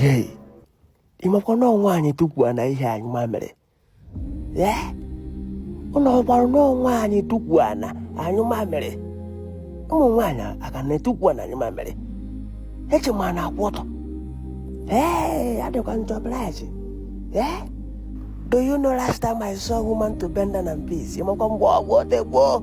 Hey, ị makwa na ụmụ nwaanyị tukwu ana ihe anyụ mamịrị ee ụlọ ọgbarụ na ụmụ nwaanyị tukwu ana anyụ mamịrị ụmụ nwaanyị a ka na-etukwu ana anyụ mamịrị eche m a na-akwụ ọtọ ee adịkwa njọ blaji ee do you know last time I saw woman to bend down and piss ị makwa mgbe ọ bụ o tego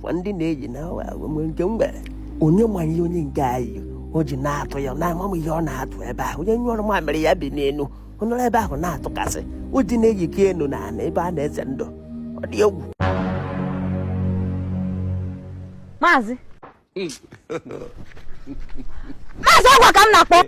kwa ndị na-eji na awa agwa nwere nke m gwara onye ma ihe onye nke anyị o ji na-atụ ya na amam ihe ọ na-atụ ebe ahụ onye nyụọrọ mamịrị ya bi n'elu ọ nọrọ ebe ahụ na-atụkasị o ji na-eyike enu na ala ebe a na-eze ndụ ọ dị egwu maazị maazị ọ gịwa ka m na-akpọ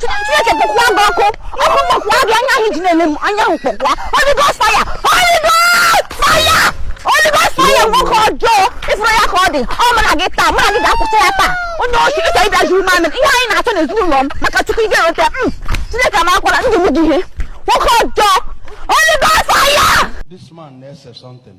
Chineke kpọkwaa gị ọkụ ọkụ kpọkwaa gị anya ahụ ji na-ele m anya ahụ kpọkwaa Holy Ghost fire Holy Ghost fire Holy Ghost fire nwoke ọjọọ ị fụrụ ya ka ọ dị ọ mụ na gị taa mụ na gị ga-akwụsị ya taa onye oshi ị chọ ịbịa zuru mamị ihe anyị na-achọ n'ezinụlọ m maka Chukwu ị ga-enweta m Chineke ma akwara ndị m gị ihe nwoke ọjọọ Holy Ghost fire This man na-ese something.